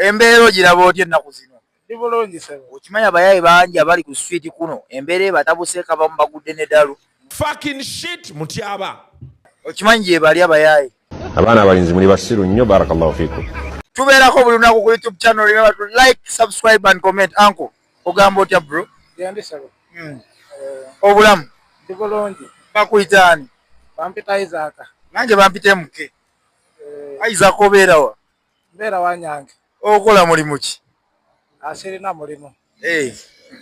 Embeera ogiraba otya ennaku zino? Ndi bulungi ssebo. Okimanyi abayaaye bangi abali ku street kuno embeera ebatabuseeko abamu bagudde ne dalu. Fucking shit Mutyaba. Okimanyi gyebali abayaaye? Abaana abalinzi muli basiru nnyo barakallahu fikum. Tubeerako buli lunaku ku YouTube channel remember to like, subscribe and comment uncle ogamba otya bro? Gyendi ssebo. Hmm. Eh. Obulamu? Ndi bulungi. Bakuyita ani? Bampita Isaac. Nange bampita MK. Eh. Isaac obeera wa? Mbeera wanyange. Okola mulimu ki? Asirina ah, mulimu. Hey, eh,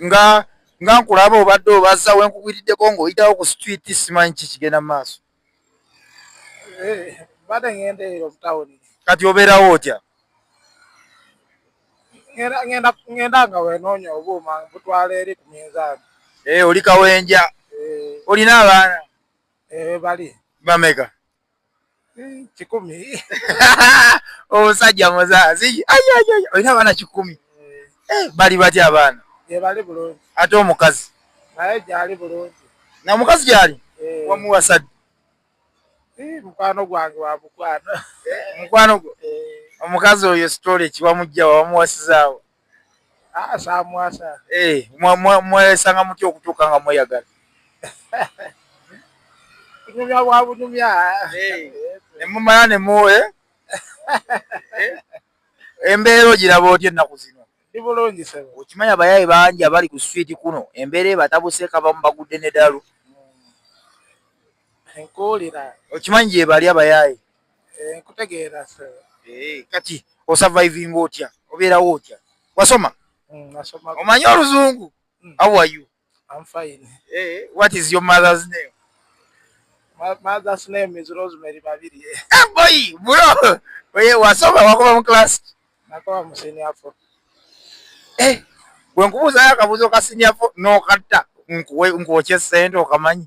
nga nga nkulaba obadde obazza we nkugwiriddeko ng'oyitawo ku street simanyi ki kigenda mu maaso. Hey, eh, mbadde ng'enda eyo mu tawuni. Kati obeerawo otya? Ng'enda nga wenoonya obuuma butwala eri ku minzaani. Hey, eh, oli kawenja. Hey. Olina abaana? Hey, bali. Bameka? Eh, kikumi omusajja muzazi olina abaana kikumi eh, bali batya abaana ate omukazi namukazi gyali eh. wamuwasadde mukwano gwange wamukwano mukwano gwo omukazi oyo sitole kiwamujjawa wamuwasizaawo samwasa eh, mwesanga mutya okutuuka nga mweyagala kunyumya bwa bunyumya eh, nemumala nemuwe eh, embeera ogiraba otya ennaku zino ibulungi sebo okimanyi abayaye bangi abali ku switi kuno embeera ebatabuseeka bamu bagudde nedalu hmm. nkuwulira okimanyi gyebali abayaye Eh, nkutegeera eh, kati osurviving otya obeerawo otya wasoma mm, omanyi oluzungu mm. how are you I'm fine. Hey, eh, what is your mother's name? My mother's name is Rosemary Babiri. Hey, eh, boy, bro. Oye, wasoma wakuba mu class. Nakuba mu senior four. Eh, bwe nkubuuza akabuuzo ka senior four n'okatta nkuwe nkwokye ssente okamanyi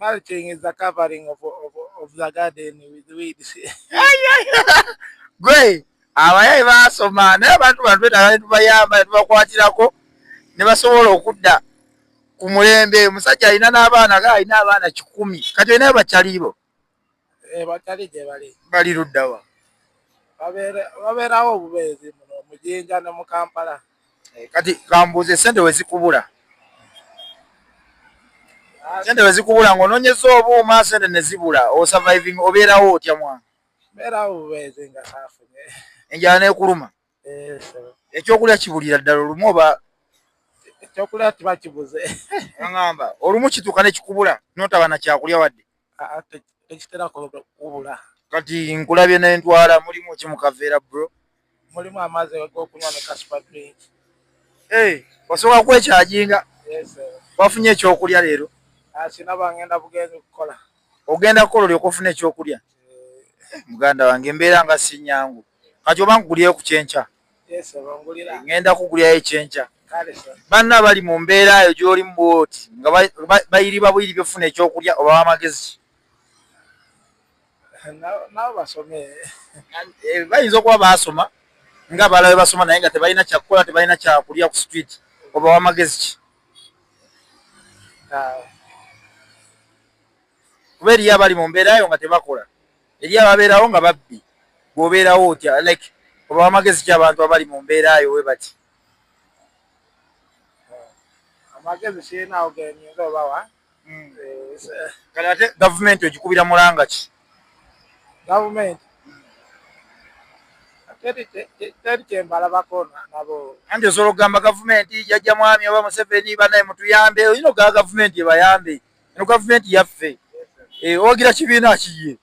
Mulching is the covering of, of, of the garden with weeds. Gwe abayaye baasoma naye abantu bano twetaaga ne tubayamba ne tubakwatirako ne basobola okudda ku mulembe. Omusajja alina n'abaana ga alina abaana kikumi kati olina bakyaliibo Eh, batali gye bali bali luddawa babeerawo obubeezi muno mujinja ne mu kampala eh, kati kambuuze sente wezikubula ah. sente wezikubula ngaononyeza obuuma sente nezibula osurviving obeerawo otya mwana beerawo obubeezi nga saafunye enjala nekuluma ekyokulya kibulira ddala olumu oba ekyokulya kiba kibuze aamba olumu kituuka nekikubula notaba nakyakulya wadde tekitera kubula kati nkulabye nentwala mulimu ki mukaveera bro mulimu amazzi gokunywa ne kasupa drink osobola kwekyajinga wafunye ekyokulya leero sinaba ngenda bugenzi kukola ogenda kukola olyoka ofuna ekyokulya eh. muganda wange embeera nga sinyangu kati oba nkugulyeyo ku kyenkya ŋŋenda kugulyayo ekyenkya banna bali mu mbeera eyo gy'olimu bwoti nga bayiriba buyiri byofuna ekyokulya oba wamagezi eh, bayinza okuba baasoma nga balawe basoma naye nga tebalina kyakukola tebalina kyakulya ku street oba wamagezi ki kuba eriyo abali mu mbeera eyo nga tebakola eri ababeerawo nga babbi bwobeerawo otya like oba amagezi ki abantu abali mu mbeera yo we bati amagezi sirinawo genyinza obawa hmm. eh, kale ate gavumenti ogikubira mulanga ki gavumenti teri kyembalabako nabo anti osobola okugamba gavumenti jajja mwami oba museveni banaye mutuyambe oyina ogaa gavumenti ebayambe Eno gavumenti yaffe ewagira eh, kibiina kiye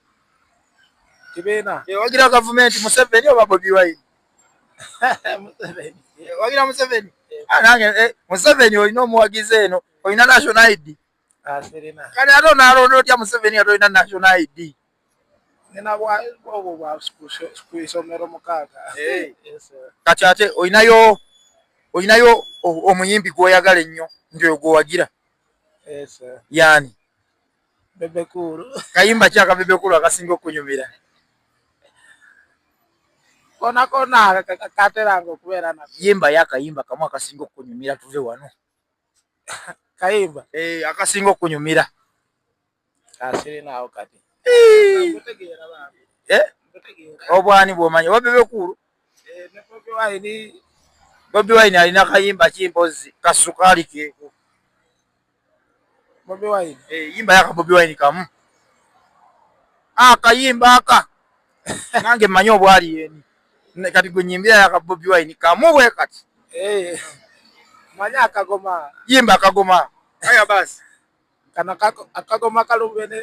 kibiina ewagira eh, gavumenti Museveni oba Bobi Wine ewagira eh, Museveni ah, nange Museveni olina omuwagizi eno olina national ID ah, kale ate onaalonda otya Museveni nga tolina national ID kati ate olinayo olinayo omuyimbi gwoyagala ennyo nti oyo gwowagira Eh, yani bebekulu kayimba kyaka bebekulu akasinga okunyumira kona kona kateranga okubeera na yimba yakayimba kamu akasinga okunyumira tuve wano kayimba eh, akasinga okunyumira asirinaawo kati eh? obwani bwomanya oba bebekuulu eh, bobi wine alina kayimba ki mpozi kasukaali keeko eh, yimba yaka bobi wine kamu akayimba ah, aka nange mmanyi obwali yeni kati gwe nyimbira yaka bobi wine kamu bwe kati manya akagoma yimba akagoma aya basi Kano akagoma kalubene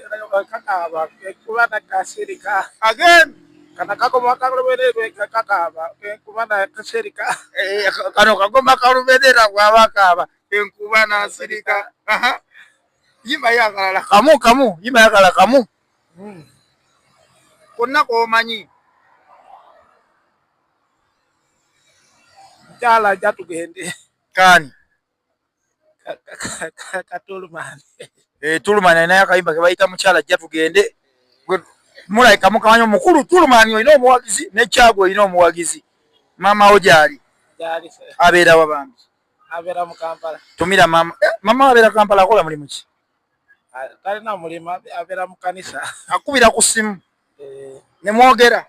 kakaaba kuba na kasirika. Again. Kano akagoma kalubene kakaaba kuba na kasirika. Eh, kano kagoma kalubene na bwaba kaaba kuba na sirika. Aha. Yimba yakalala kamu kamu yimba yakala kamu. Hmm. Konna komanyi. Jala jatugende. Kani. katulumani eh, tulumani alinayo akayimba kebayita mukyala ajja tugende mulaika mukamanya omukulu tulumani olina omuwagizi nekyago olina omuwagizi mamawo gyali abeera wabambi abeera mu kampala tumira mama eh, mama abeera kampala akola mulimu ki talina mulimu abeera mu kanisa akubira ku simu eh. ne mwogera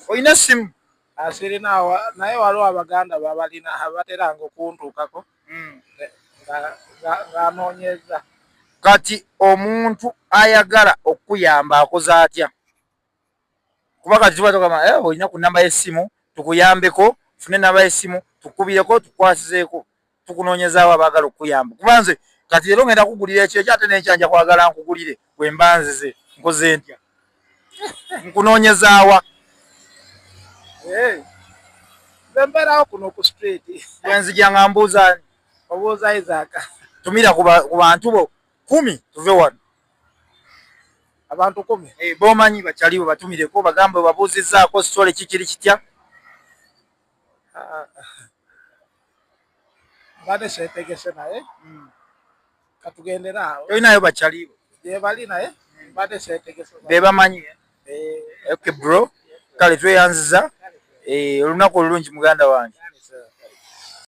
olina essimu asirina ah, naye waliwo abaganda babalina abateranga okuntuukako hmm. ng'anoonyeza kati omuntu ayagala okukuyamba akoze atya kuba kati tuba tugamba eh, olina ku namba y'essimu tukuyambeko fune namba y'essimu tukubireko tukwasizeeko tukunoonyezawo abaagala okukuyamba kuba nze kati leero ngenda kugulira ekyekyo ate nenkyanja kwagala nkugulire wemba nzize nkoze ntya nkunoonyezaawa bembeerawo kuno ku street wenzija nga mbuuza obuuza isaaka tumira ku bantu bo kumi tuve wano abantu kumi eh, bomanyi bakyaliwo batumireko bagambe babuuzizzaako sitole kikiri kitya mbadde seetegese naye hmm. katugendere awo tolinayo bakyaliibo gyebali naye mbadde seetegese be bamanyi eh. ok bro kale tweyanziza eh, olunaku olulungi muganda wange